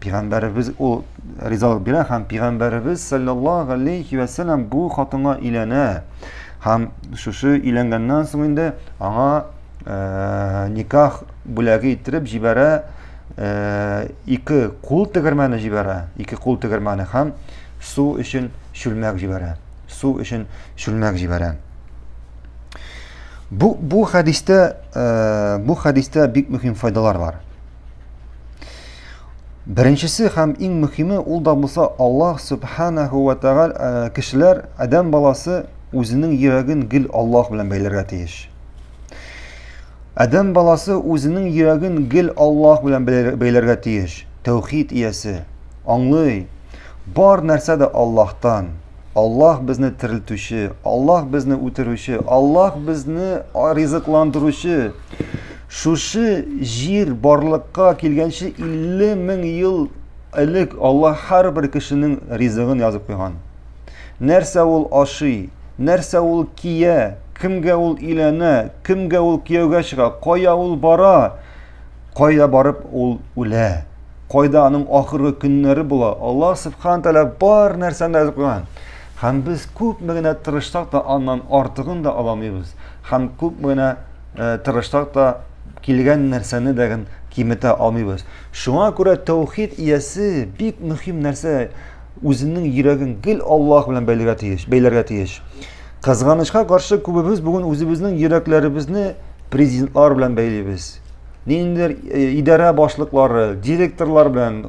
Пигамбәребез ул ризалык бирә һәм пигамбәребез саллаллаһу алейхи ва саллям бу хатынга өйләнә. Һәм шушы өйләнгәннән соң инде аңа э, никах бүләге иттереп җибәрә э, ике кул тегермәне җибәрә, ике кул тегермәне һәм су өчен чүлмәк җибәрә. Су өчен чүлмәк җибәрә. Бу бу хәдистә э, бу хәдистә бик мөһим файдалар бар. Беренчесе һәм иң мөхиме ул да булса Аллаһ субханаһу ва тагал э, кешеләр адам баласы үзенең йөрәген гел Аллаһ белән бәйләргә тиеш. Адам баласы үзенең йөрәген гел Аллаһ белән бәйләргә тиеш. Тәүхид иясе аңлый, бар нәрсә дә Аллаһтан. Аллаһ безне терелтүче, Аллаһ безне үтерүче, Аллаһ безне ризыкландыручы. Шушы җир барлыкка килгәнче 50 мең ел элек Алла һәрбер кешенең ризыгын язып куйган. Нәрсә ул ашый, нәрсә ул кия, кемгә ул өйләнә, кемгә ул кияүгә чыга, кая ул бара, кая барып ул үлә, кайда аның ахыргы көннәре була, Алла Субхан Тәгалә бар нәрсәне язып куйган. Һәм без күпме генә тырышсак та аннан артыгын да аламыйбыз. Һәм күпме генә тырышсак та, килгән нәрсәне дә киметә алмыйбыз. Шуңа күрә тәүхид иясе бик мөһим нәрсә, үзенең йөрәген гел Аллаһ белән бәйләргә тиеш, бәйләргә тиеш. Кызганычка каршы күбебез бүген үзебезнең йөрәкләребезне президентлар белән бәйлибез. Ниндидер э, идарә башлыклары, директорлар белән,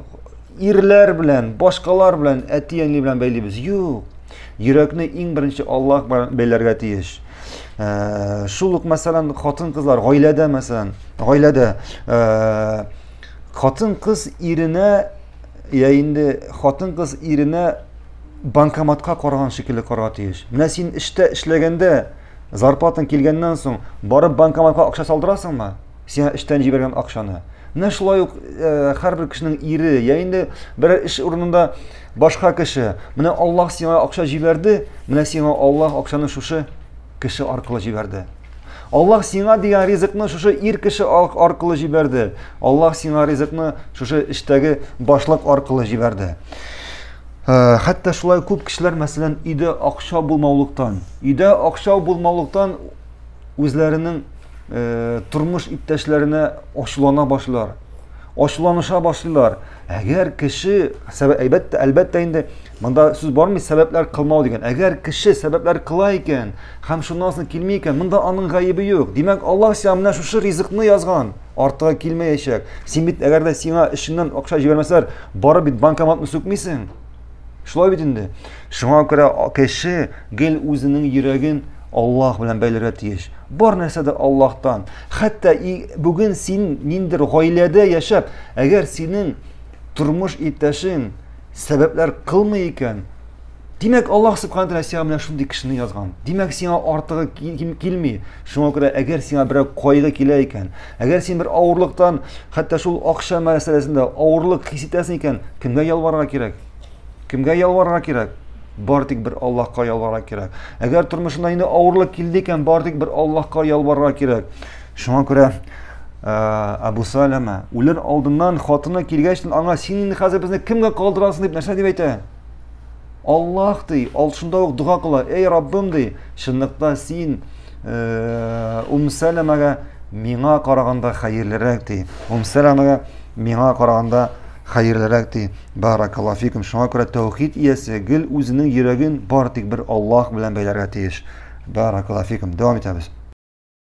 ирләр белән, башкалар белән, әти-әни белән бәйлибез. Юк. Йөрәкне иң беренче Аллаһ белән бәйләргә тиеш. Ә, шул ук, мәсәлән, хатын-кызлар гаиләдә, мәсәлән, гаиләдә ә, хатын-кыз иренә я инде хатын-кыз иренә банкоматка караган шикелле карга тиеш. Менә син эштә эшләгәндә, зарплатың килгәннән соң, барып банкоматка акча салдырасыңмы? Сиңа эштән җибәргән акчаны. Менә шулай ук э, һәрбер кешенең ире, я инде берәр эш урынында башка кеше. Менә Аллаһ сиңа акча җибәрде, менә сиңа Аллаһ акчаны шушы кеше аркылы җибәрде. Аллаһ сиңа дигән ризыкны шушы ир кеше аркылы җибәрде. Аллаһ сиңа ризыкны шушы эштәге башлык аркылы җибәрде. Э, хәтта шулай күп кешеләр мәсәлән өйдә акча булмаулыктан өйдә акча булмаулыктан үзләренең э, тормыш иптәшләренә ачулана башлар ачуланыша башлыйлар әгәр кеше әлбәттә әлбәттә инде монда сүз бармый сәбәпләр кылмау дигән әгәр кеше сәбәпләр кыла икән һәм шуннан соң килми икән монда аның гаебе юк димәк аллаһ сиңа менә шушы ризыкны язган артыгы килмәячәк син бит әгәр дә сиңа эшеңнән акча җибәрмәсәләр барып бит банкоматны сүкмисең Шулай бит инде. Шуңа күрә кеше гел үзенең йөрәген Аллаһ белән бәйләргә тиеш. Бар нәрсә дә Аллаһтан. Хәтта бүген син ниндер гаиләдә яшәп, әгәр синең тормыш иптәшең сәбәпләр кылмый икән, димәк Аллаһ субхана тәгалә сиңа менә шундый кешене язган. Димәк сиңа артыгы килми. Шуңа күрә әгәр сиңа берәү кайгы килә икән, Әгәр син бер авырлыктан, хәтта шул акча мәсьәләсендә авырлык хис итәсең икән, кемгә ялварга кирәк? Кемгә ялварга кирәк? Бар тик бер Аллаһка ялварга кирәк. Әгәр тормышына инде авырлык килде икән, бар тик бер Аллаһка ялварга кирәк. Шуңа күрә Э, Абу Саляма үлер алдыннан хатыны килгәч, аңа син инде хәзер безне кемгә калдырасың дип нәрсә дип әйтә? Аллах ди, ал шунда ук дога кыла, эй Раббым ди, чынлыкта син э, Ум Сәләмәгә миңа караганда хәерлерәк ди. Ум Сәләмәгә миңа караганда хәерлерәк ди. Баракаллафикум. Шуңа күрә тәүхид иясе гел үзенең йөрәген бар тик бер Аллах белән бәйләргә тиеш. Баракаллафикум. Дәвам итәбез.